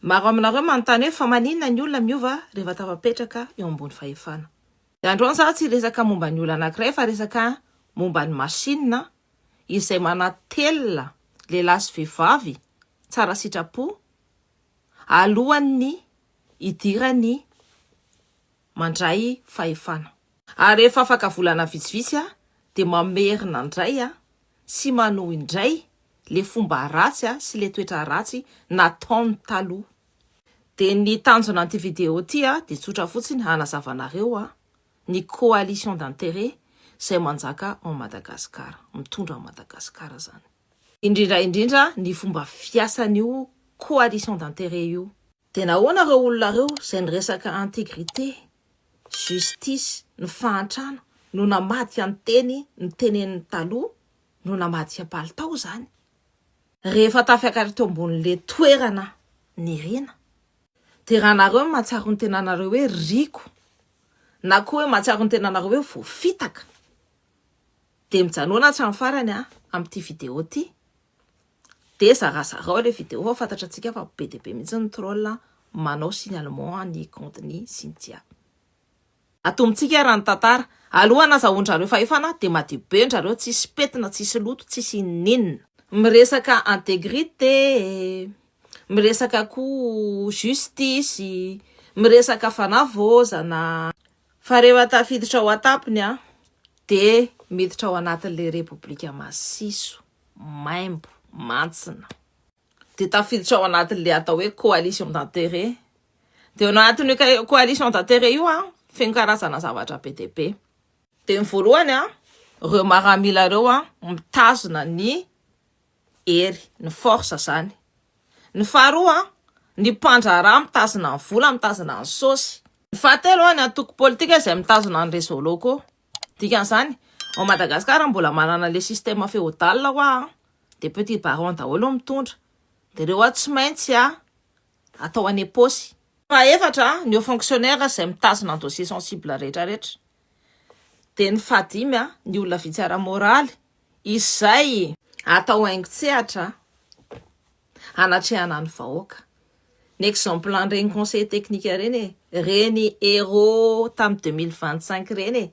Maro aminareo manontany hoe fa maninona ny olona miova rehefa tafapetraka eo ambony fahefana. Dia androany za tsy hiresaka momba ny olona anankiray fa resaka momba ny machine izay manatelina lehilahy sy vehivavy tsara sitrapo alohan'ny hidirany mandray fahefana. Ary rehefa afaka volana vitsivitsy aho dia mamerina indray aho sy manohy indray le fomba ratsy sy le toetra ratsy nataony taloha. Dia ny tanjona an'ity vidéo ity dia tsotra fotsiny hanazava anareo ny coalition d'intérêt izay manjaka ao Madagascar, mitondra an'i Madagascar izany. Indrindra indrindra ny fomba fiasan'io coalition d'intérêt io. Dia nahoana ireo olona ireo izay niresaka integrite, justice, ny fahantrana no namaty an teny nitenenin'ny taloha no namaty an palitao izany rehefa tafiakatra teo ambonin'le toerana niriana? Dia raha nareo no mahatsiaro ny tenanareo hoe riko na koa hoe mahatsiaro ny tenanareo hoe voafitaka dia mijanona hatramin'ny farany an amin'ity video ity. Dia zarazarao ilay vidéo fa fantatrantsika fa be dia be mihitsy ny troll manao signalement ny compte ny Cynthia. Atombontsika ary ny tantara. Aloha nazahoandrareo fahefana dia madio be ndrareo tsisy petina tsisy loto tsisy inoninona. Miresaka integrite e, miresaka koa justice, miresaka fanavaozana. Fa rehefa tafiditra ao an-tampony dia miditra ao anatin'ilay repoblika masiso. maimbo mantsina. Dia tafiditra ao anatin'ilay atao hoe coalition d'intérêt. Dia ao anatin'io coalition d'intérêt io an, feno karazana zavatra be dia be. Dia ny voalohany an, ireo maramila ireo an, mitazona ny hery, ny force zany. Ny faharoa an, ny mpandraharaha mitazona ny vola, mitazona ny sosy. Ny fahatelo an, ny antoko politika izay mitazona ny réseaux locaux. Dikan'izany, ao Madagasikara mbola manana ilay système féodal hoa an, dia petit baron daholo no mitondra, dia ireo hoa tsy maintsy an atao any am-paosy. Fahefatra, ny haut fonctionnaire izay mitazona ny dossier sensible rehetra rehetra, dia ny fahadimy an, ny olona vitsy ara-moraly izay. Atao haingon-tsehatra an. hanatrehana ny vahoaka. Ny exemple an'ireny conseil technique ireny e, ireny Hero tamin'ny 2025 ireny e,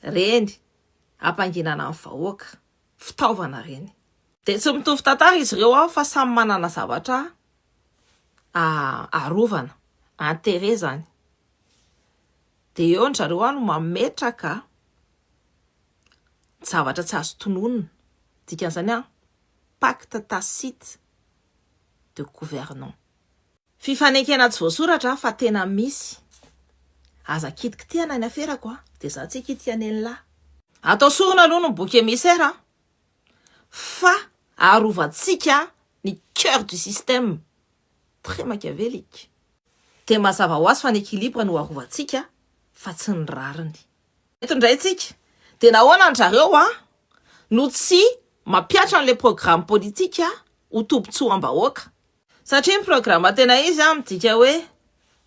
ireny hampanginana ny vahoaka, fitaovana ireny. Dia tsy mitovy tantara izy ireo ao fa samy manana zavatra arovana, intérêt zany. Dia eo ny zareo no mametraka zavatra tsy azo tononina, dikan'izany an, pacte tacite de gouvernant. Fifanekena tsy voasoratra fa tena misy. Aza kitikitihana ny aferako a! Dia za tsy hikitika an'elinlahy. Atao sorona aloha ny bouc émissaire a! Fa arovantsika ny coeur du système très machiavélique. Dia mazava ho azy fa ny équilibre no arovantsika fa tsy ny rariny. Eto indray tsika dia nahoana an-dRareo an no tsy mampiatra an'ilay programme politika ho tobin-tsoam-bahoaka? Satria ny programme tena izy an midika hoe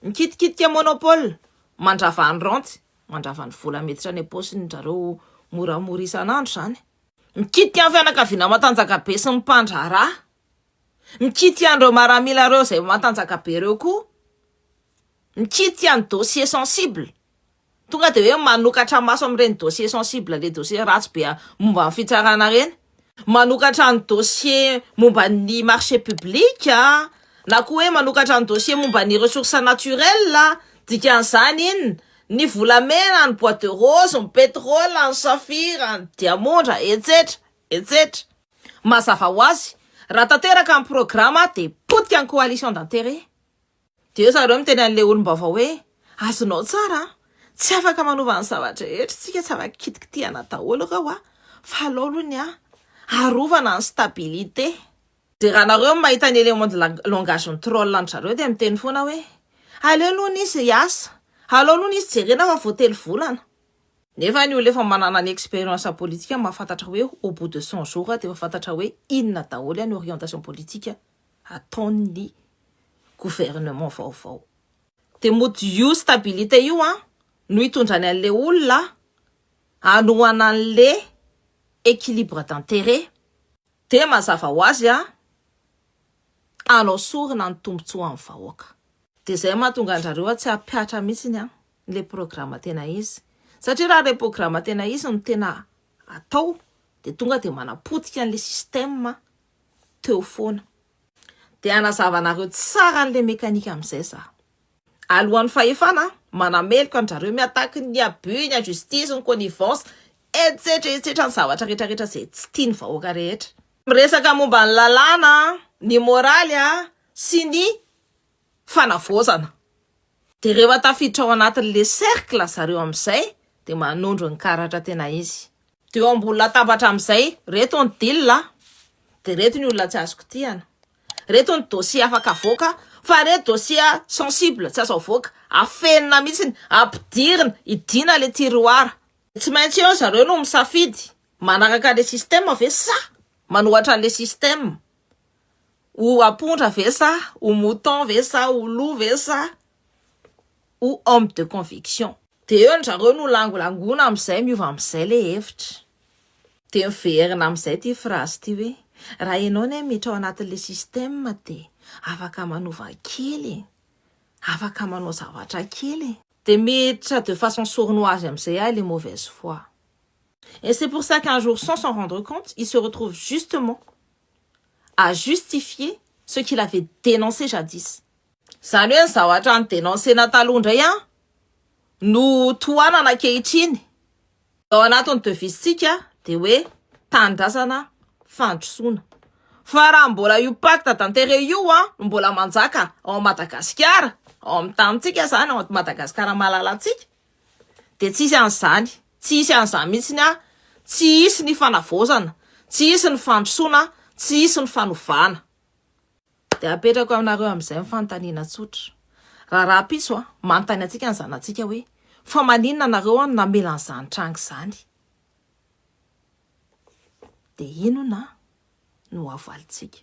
mikitikitika monopole, mandrava ny raontsy, mandrava ny vola miditra any am-paosin-dRareo moramora isan'andro izany, mikitika ny fianakaviana matanjakabe sy ny mpandraharaha, mikitika an'ireo maramila ireo izay matanjakabe ireo koa, mikitika ny dossiers sensibles. Tonga dia hoe manokatra maso amin'ireny dossier sensible le dossier ratsy be momba ny fitsarana ireny, manokatra ny dossier momba ny marché public na koa hoe manokatra ny dossier momba ny ressources naturelles, dikan'izany inona? ny volamena, ny bois de rose, ny pétrole, ny saphir, ny diamondra, etsetra, etsetra. Mazava ho azy, raha tanteraka ny programa dia potika ny coalition d'intérêt. Dia zareo miteny an'ilay olom-baovao hoe, Azonao tsara an! Tsy afaka manova ny zava-drehetra isika, tsy afaka kitikitihana daholo ireo an! Fa alao aloha ny an! Arovana ny stabilité! Dia raha nareo mahita ny élément de langage ny troll an-dry zareo dia miteny foana hoe, Aleo aloha ny izy hiasa! Alao aloha ny izy jerena fa vao telo volana! Nefa ny olona efa manana ny expérience politika mahafantatra hoe au bout de cent jours dia efa fantatra hoe inona daholo an ny orientation politique ataon'ny gouvernement vaovao. Dia mody io stabilité io an no hitondrany an'le olona hanohana an'le équilibre d'intérêt dia mazava ho azy an hanao sorona ny tombotsoan'ny vahoaka. Dia zay mahatonga andrareo an tsy hampihatra mihitsiny an le programa tena izy. Satria raha le programa tena izy no tena atao dia tonga dia manapotika an'le système teo foana. Dia hanazava anareo tsara an'ilay mécanique amin'izay za. Alohan'ny fahefana manameloka an-drareo mi-attaque ny abus, ny injustice, ny connivence, etsetra etsetra ny zavatra rehetra rehetra izay tsy tian'ny vahoaka rehetra. Miresaka momba ny lalàna, ny moraly sy ny fanavaozana. Dia rehefa tafiditra ao anatin'ilay cercle zareo amin'izay dia manondro ny karatra tena izy. Dia eo ambony latabatra amin'izay, reto ny deal a! Dia reto ny olona tsy azo kitihana. Reto ny dossier afaka avoaka fa reto dossier sensible tsy azo avoaka, afenina mihitsiny, ampidirina, idiana ilay tiroir. Tsy maintsy eo zareo no misafidy, manaraka ilay système ve sa manohatra an'ilay système. Ho apondra ve sa ho mouton ve sa ho loup ve sa ho homme de conviction. Dia eo ndrareo no langolangona amin'izay miova amin'izay ilay hevitra. Dia miverina amin'izay ity phrase ity hoe, raha ianao anie miditra ao anatin'ilay système dia afaka manova kely e, afaka manao zavatra kely e. Dia miditra de façon sournoise amin'izay ary ilay mauvaise foi. Et c'est pour ça qu'un jour sans s'en rendre compte, il se retrouve justement. à justifier ce qu'il avait dénoncé jadis. Izany hoe ny zavatra ni-denoncer-na taloha indray no tohanana ankehitriny. Ny ao anatin'ny devise-tsika dia hoe tanindrazana fandrosoana. Fa raha mbola io pacte d'intérêt io no mbola manjaka ao Madagasikara, ao amin'ny tanintsika izany, ao Madagasikara malalantsika, dia tsy hisy an'izany, tsy hisy an'izany mihitsiny an, tsy hisy ny fanavaozana, tsy hisy ny fandrosoana, tsy hisy ny fanovana. Dia apetrako aminareo amin'izay ny fanontaniana tsotra, raha rahampitso an, manontany antsika ny zanatsika hoe, fa maninona nareo an no namela an'izany tranga izany? Dia inona no havalintsika?